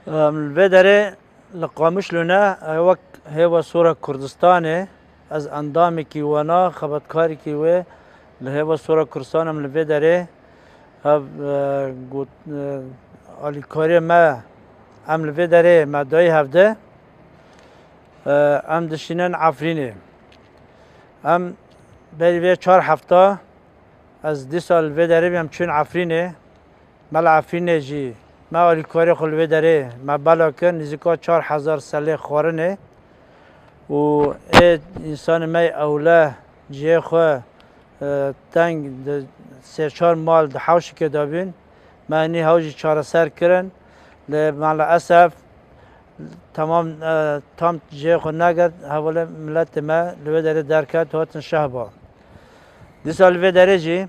Li vê derê li Qamişlo ne wek Hêva Sora Kurdistanê ez endamekî wena xebatkarekî wê li Hêva Sora Kurdistanê em li vê derê hev alîkariyê me em li vê derê me dayî hevde em dişînin Efrînê. Em berî vê çar hefta ez dîsa li vê derê bî em çûn Efrînê. Me li Efrînê jî me alîkarê xwe li wê derê me bela kir nîzika çar hezar selê xwarinê û ê însanê me yê ewle cihê xwe teng di sê çar mal di hewşikê de bûn. Me hinî hewl jî çareser kirin lê me li esef temam tam cihê xwe negirt hevalê miletê me li wê derê derket hatin şehba. Dîsa li vê derê jî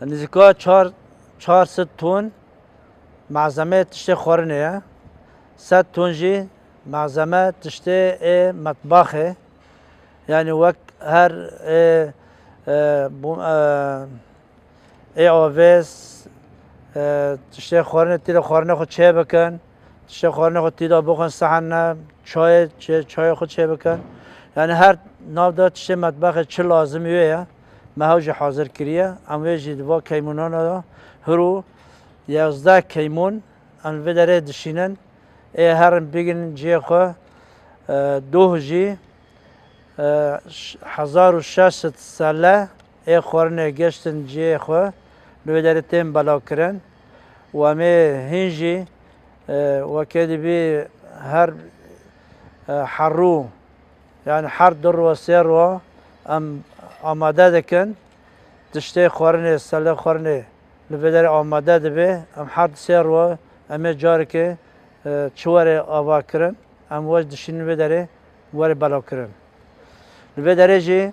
Nizîka çar çar sed ton malzemeyê tiştê xwarinê ye. Sed ton jî malzeme tiştê ê metbaxê yanî wek her ê ê avês tiştê xwarinê tî de xwarinê xwe çê bikin. Tiştê xwarinê xwe tî de bixwin sehene çayê çayê xwe çê bikin. Yanî her nav de tiştê metbaxê çi lazim wê ye. meha jî hazir kiriye. Em wê jî di van keymûnan de hir û yazdeh keymûn em li vê derê dişînin. Ê herin bigrin cihê xwe. Doh jî hezar û şeş sed selle ê xwarinê geştin cihê xwe li vê derê tên belakirin û em ê hîn jî wekê dibî her herû Yan her du rû sê rû em amade dikin tiştê xwarinê sele xwarinê li vê derê amade dibê em her du sê rû em ê carekê çi were ava kirin em weş dişînin vê derê were belav kirin li vê derê jî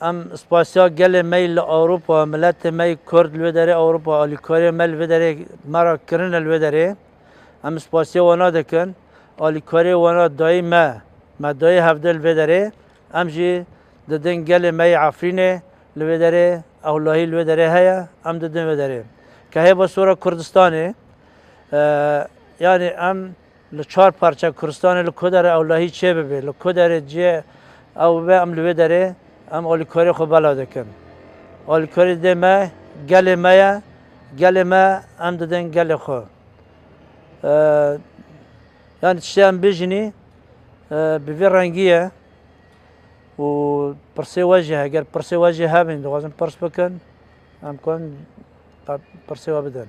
em spasiya gelê mey li Ewropa miletê mey kurd li vê derê Ewropa alîkariyê me li vê derê me ra kirine li vê derê. Em spasiya wana dikin, alîkarê wana dayî me, me dayê hevdeh li vê derê, em jî didin gelê me yê Efrînê li vê derê, ewlahî li vê derê heye, em didin vê derê. Ke hêva sora Kurdistanê, yanî em li çar parça Kurdistanê li ku derê ewlahî çê bibê, li ku derê cê ew bibe em li vê derê em alîkarê xwe belav dikin. Alîkarî dê me gelê me ye. Gelê me em didin gelê xwe. Yani tiştê em bijinî bi vê rengî ye û pirsê we jî heger pirsê we jî hebin dixwazin pirs bikin em kon pirsê we bidin.